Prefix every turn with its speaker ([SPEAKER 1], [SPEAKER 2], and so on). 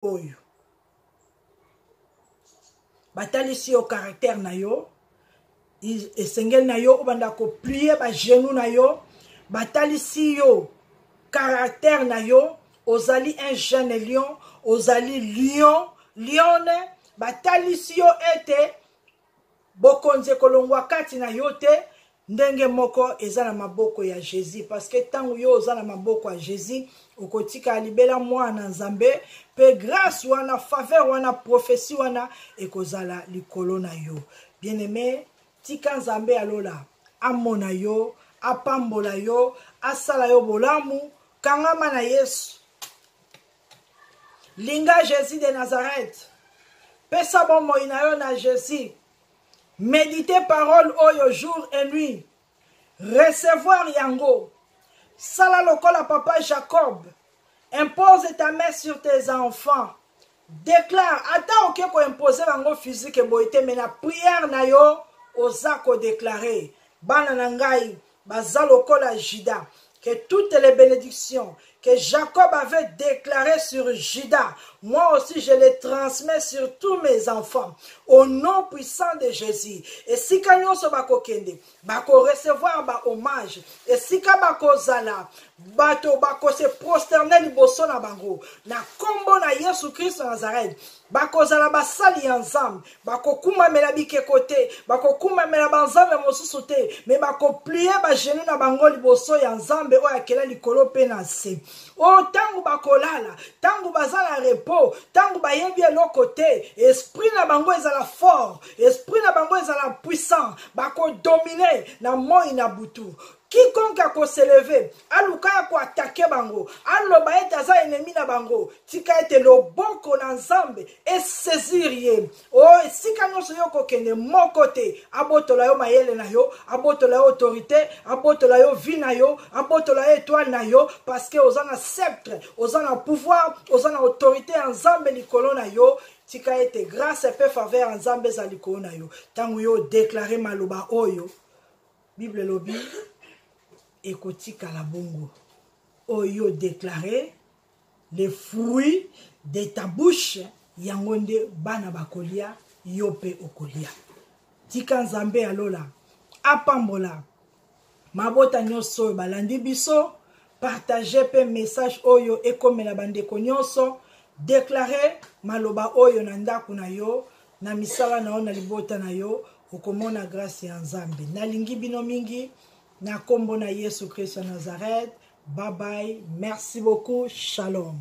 [SPEAKER 1] oyo batalisi yo caractère na yo esengeli na yo obanda koplie bagenou na yo batalisi yo caractère na yo ozali un jeune lion ozali lion lione batalisi yo ete bokonzi ekolongwa kati na yo te ndenge moko eza na maboko ya jésus parce que ntango yo oza na maboko ya jésus okotikala libela mwana na nzambe mpe grâce wana faveur wana prophetie wana ekozala likolo na yo bien aime tika nzambe ya lola amona yo apambola yo asala yo bolamu kangama na yesu linga jésus de nazareth pesa bomoi na yo na jésus médite parole oyo jour et nuit recevoir yango sala lokola papa jacob impose ta main sur tes enfants déclare ata oke koimpose bango physique boye te me na prière na yo oza kodeklare bana na ngai baza lokola juda que toutes les bénédictions que Jacob avait déclarées sur Judas, moi aussi je les transmets sur tous mes enfants, au nom puissant de Jésus. Et si nyonso bakokende, bako recevoir ba hommage, et si bako zala, bato bako se prosterner liboso na bango, na kombo na Yesu Christ Nazareth, bakozala basali ya nzambe bakokumbamela bikeko te bakokumbamela banzambe mosusu te me bakoplie bagenu na bango liboso ya nzambe oyo akela likolo mpe na nse o oh, ntango bakolala ntango baza na repo ntango bayebi eloko te esprit na bango ezala fort esprit na bango ezala puissant bakodomine na moi na butu quiconque akoseleve aluka ya koatake bango aloba ete aza enemi na bango tika ete loboko na nzambe esaisir ye o oh, esika nyonso yo kokende moko te abotola yo mayele na yo abotola yo autorité abotola yo vie na yo abotola yo etoile na yo parce que oza na sceptre oza na pouvoir oza na autorité ya nzambe likolo na yo tika ete grâce mpe faveur ya nzambe ezali likolo na yo ntango yo odeklare maloba oyo bible elobi ekotikala bongo oyo oh, deklare le fruit de ta bouche yango nde bana bakolia yo mpe okolia tika nzambe ya lola apambola mabota nyonso oyo balandi biso partage mpe message oyo ekomela bandeko nyonso deklare maloba oyo na ndako na yo na misala na yo na libota na yo okomona grâce ya nzambe nalingi bino mingi na kombo na yesu kristo ya nazareth bye bye merci beaucoup shalom